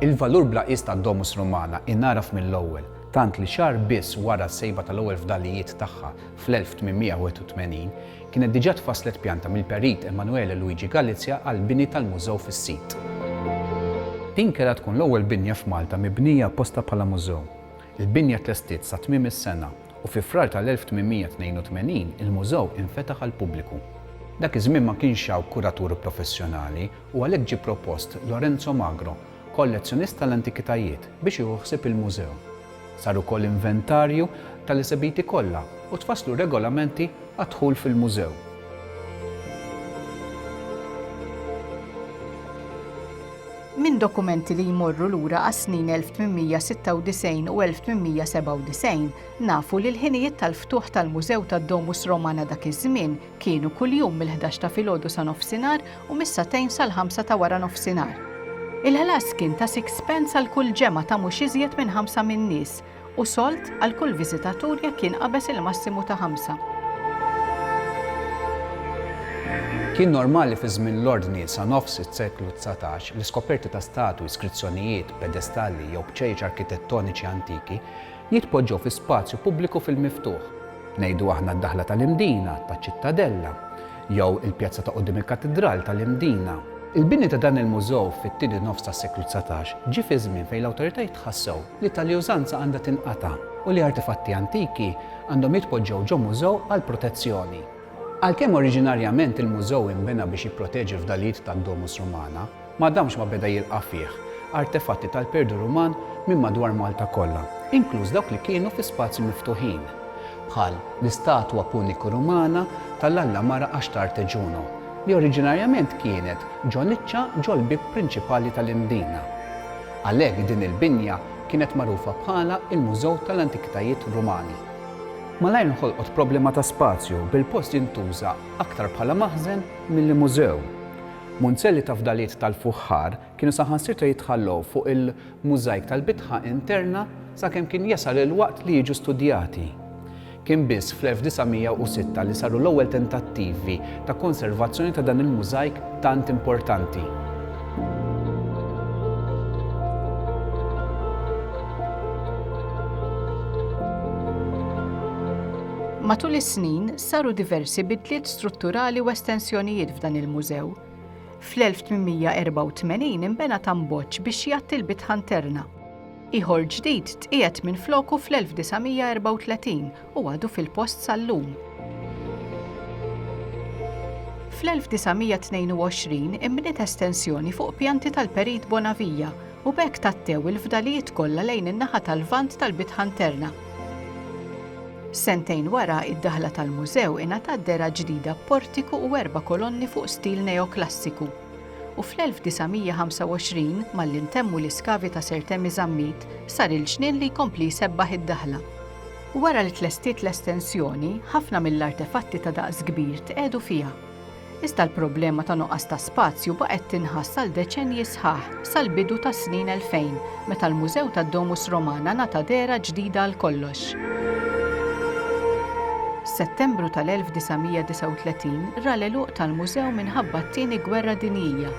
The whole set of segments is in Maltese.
Il-valur bla qies tad-Domus Romana ingħaraf mill-ewwel, tant li xahar biss wara s-sejba tal-ewwel fdalijiet tagħha fl-1881, kienet diġà tfasslet pjanta mill-Perit Emanuele Luigi Galizia għall-bini tal-mużew fis-sit. Din kellha tkun l-ewwel binja f'Malta mibnija apposta bħala mużew. Il-binja tlestiet sa tmiem is-sena. u fi Frar tal-1882 il-mużew infetaħ għall-pubbliku. Dak iż-żmien ma kienx hawn kuratur professjonali u għalhekk ġie propost Lorenzo Magro, kollezzjonist tal-antikitajiet, biex jieħu ħsieb il-mużew. Sar ukoll inventarju tal-esebiti kollha u tfasslu regolamenti għad-dħul fil-mużew. minn dokumenti li jmorru lura għas-snin 1896 u 1897, nafu li l-ħinijiet tal-ftuħ tal-Mużew tad-Domus Romana dak iż-żmien kienu kuljum mill-ħdax ta' filgħodu sa nofsinhar u mis-sagħtejn sal-ħamsa ta' wara nofsinhar. Il-ħlas kien ta' sixpence għal kull ġemgħa ta' mhux iżjed minn ħamsa min-nies, u solt għal kull viżitatur jekk jinqabeż il-massimu ta' ħamsa. Kien normali fi żmien l-Ordni sa nofs is-seklu dsatax li skoperti ta' statwi, skrizzjonijiet, pedestalli jew bċejjeċ arkitettoniċi antiki jitpoġġew fi spazju pubbliku fil-miftuħ, ngħidu aħna d-daħla tal-Imdina, taċ-Ċittadella, jew il-pjazza ta' quddiem il-Katidral tal-Imdina. Il-bini ta' dan il-mużew fit-tieni nofs tas-seklu dsatax ġie fi żmien fejn l-awtoritajiet ħassew li tali użanza għandha tinqata' u li artefatti antiki għandhom jitpoġġew ġo mużew għall-protezzjoni. Għalkemm oriġinarjament il-mużew inbena biex jipproteġi l-fdalijiet tad-Domus Romana, ma damx ma beda jilqa' fih artefatti tal-perdu Ruman minn madwar Malta kollha, inkluż dawk li kienu fi spazji miftuħin, bħal l-istatwa Puniku-Rumana tal-alla mara Astarte Juno, li oriġinarjament kienet ġo niċċa ġol-bieb prinċipali tal-Imdina. Għalhekk din il-binja kienet magħrufa bħala l-Mużew tal-Antikitajiet Rumani. Malajr nħolqot problema ta' spazju bil-post jintuża aktar bħala maħżen milli mużew. Munzelli ta' fdalijiet tal-fuħħar kienu saħansitra jitħallew fuq il-mużajk tal-bitħa interna sakemm kien jasal il-waqt li jiġu studjati. Kien biss fl-1906 li saru l-ewwel tentattivi ta' konservazzjoni ta' dan il-mużajk tant importanti. Matul is-snin saru diversi bidliet strutturali u estensjonijiet f'dan il-mużew. Fl-1884 inbena tamboġġ biex jgħatti l-bitħa nterna. Ieħor ġdid tqiegħed minfloku fl-1934 u għadu fil-post sal-lum. Fl-1922 inbniet estensjoni fuq pjanti tal-Perit Bonavija u b'hekk tattew il-fdalijiet kollha lejn in-naħa tal-Lvant tal-bitħa nterna. Sentejn wara, id-daħla tal-mużew ingħatat dehra ġdida b'portiku u erba' kolonni fuq stil neoklassiku. u fl-1925, malli ntemmu l-iskavi ta' Sir Temi Zammit, sar il-ġnien li jkompli jsebbaħ id-daħla. Wara li tlestiet l-estensjoni, ħafna mill-artefatti ta' daqs kbir tqiegħdu fiha. Iżda l-problema ta' nuqqas ta' spazju baqgħet tinħass għal deċennji sħaħ, sal-bidu tas-snin 2000, meta l-Mużew tad-Domus Romana ngħata dehra ġdida għal kollox. Settembru tal-1939 ra l-għeluq tal-mużew minħabba t-Tieni Gwerra Dinjija.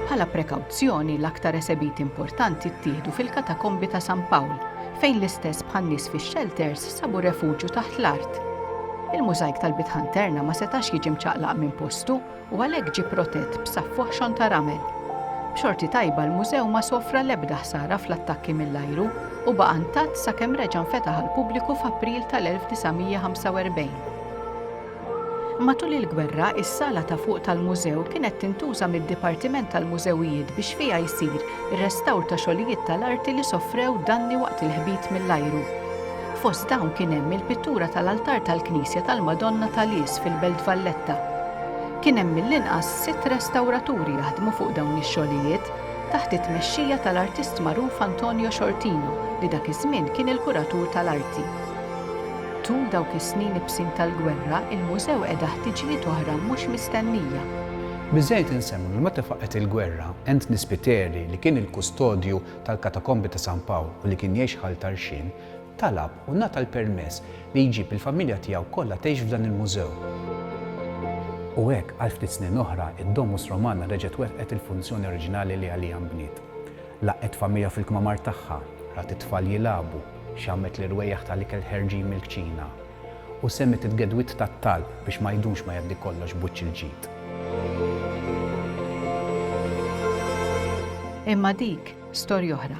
Bħala prekawzjoni, l-aktar esebiti importanti ttieħdu fil-Katakombi ta' San Pawl, fejn l-istess bħan-nies fix-xelters sabu refuġju taħt l-art. Il-mużajk tal-Bitħan Terna ma setax jiġi mċaqlaq minn postu u għalhekk ġie protett b'saffoħxon ta' ramel. B'xorti tajba l-mużew ma sofra l-ebda ħsara fl-attakki mill-ajru u baqa' ntatt sakemm reġa' nfetaħ għall-pubbliku f'April tal-1945. Matul il-gwerra, is-sala ta' fuq tal-mużew kienet tintuża mid-Dipartiment tal-Mużewijiet biex fiha jsir ir-restawr ta' xogħlijiet tal-arti li sofrew danni waqt il-ħbit mill-ajru. Fost dawn kien hemm il-pittura tal-altar tal-knisja tal-Madonna ta' Lies fil-Belt Valletta. Kien hemm mill-inqas sitt restawraturi jaħdmu fuq dawn ix-xogħlijiet taħt it-tmexxija tal-artist magħruf Antonio Sciortino li dak iż-żmien kien il-kuratur tal-arti. Tul dawk is-snin ibsin tal-gwerra, il-mużew qeda ħtiġijiet oħra mhux mistennija. Biżżejjed insemmu li meta faqgħet il-gwerra, Anthony Spiteri, li kien il-kustodju tal-Katakombi ta' San Pawl u li kien jgħix Ħal Tarxien, talab u ngħata l-permess li jġib il-familja tiegħu kollha tgħix f'dan il-mużew. U hekk, għal ftit snin oħra, id-Domus Romana reġgħet wettqet il-funzjoni oriġinali li għaliha nbniet. Laqgħet familja fil-kmamar tagħha, rat it-tfal jilagħbu, xammet l-irwejjaħ tal-ikel ħerġin mill-kċina, U semiet il-gedwiet tat-talb biex ma jdumx ma jgħaddi kollox b'wiċċ il-ġid. Imma dik storja oħra.